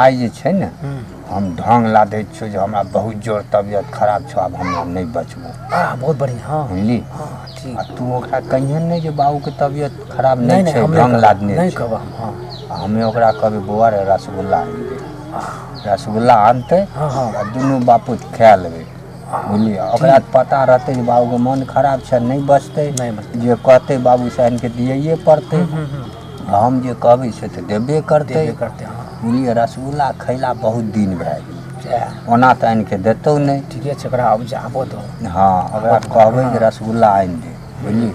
आइ जे छै ने हम ढङ्ग लादय छियौ जे हमरा बहुत जोर तबियत खराब छौ आब हमरा नहि बचबौ आह बहुत बढ़िया हाँ बुझली हाँ ठीक आ तू ओकरा कहियन नहि जे बाबूके तबियत खराब नहीं नहि नहीं छै हम ढङ्ग नहीं लादने नहीं छै कहब हम हाँ आ हमे ओकरा कहबै बौआ रे रसगुल्ला आनबै रसगुल्ला आनतै हाँ हाँ आ दुनू बापूत खाए लेबै बुझलियै आ ओकरा तऽ पता रहतै जे बाबूके मोन खराब छै नहि बचतै नहीं बस जे कहतै बाबू साहनके दियैए पड़तै हम्म, हम्म, हम्म। हम जे कहबै से तऽ देबे करतै करतै हँ बुझलियै रसगुल्ला खैला बहुत दिन भए गेल सएह ओना तऽ आनि कऽ देतौ नहि ठीके छै ओकरा आब जाबो दो हँ ओकरा कहबै जे रसगुल्ला आनि दे बुझलियै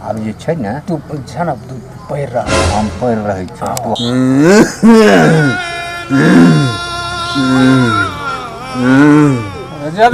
आब जे छै ने तू छै ने तू पढ़ि रह हम पढ़ि रहै छी तू जब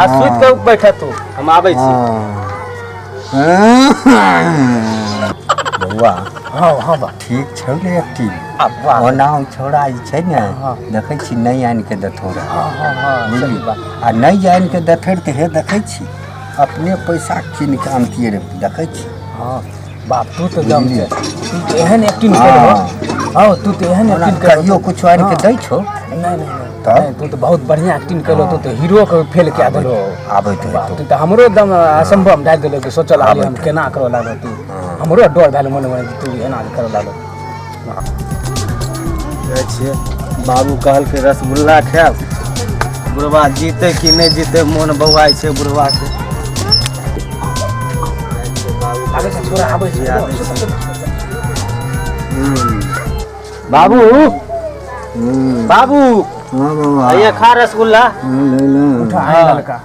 आ सुत के बैठ तू हम आबै छी बौआ हाँ हाँ बा ठीक छौ ने एक्टिंग अब वाह ओना हम छोड़ा ई छै ने देखै छी नहि आनि के देथौ रह हाँ हाँ हाँ बुझली आ नहि आनि के देथै तऽ हे देखै छी अपने पैसा कीन के आनतियै रे देखै छी हाँ बाप तू तो जम के तू तो एहन एक्टिंग कर हो हां तू तो एहन ओना एक्टिंग कर कहियो कुछ आर के दै छौ नहीं नहीं नहीं, तब? नहीं, तू तो बहुत बढ़िया एक्टिंग कर तू तो हीरो के फेल कऽ देलो आबैत बाप हेतौ तू तो हमरो एकदम असंभव डाल देलो कि सोचल आली हम केना करऽ लागल तू हमरो डर भेल मन में तू एना करऽ लागल जाइ छियै बाबू कहलकै रसगुल्ला खायब बुढ़वा जीते कि नहि जीते मोन बौआइ छै बुढ़वाके बाबू बाबू हाँ बाबा आइए खा रसगुल्ला हाँ, ले ले हाँ।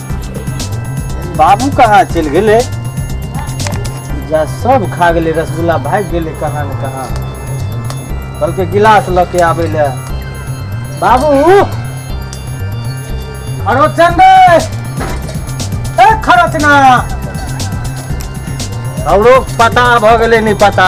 बाबू कहाँ चलि गेलै जा सब खा गेलै रसगुल्ला भागि गेलै कहाँ ने कहाँ कहलकै गिलास लऽ के आबै लए बाबू अरो चंदे ए खरचना हमरो पता भऽ गेलै नहि पता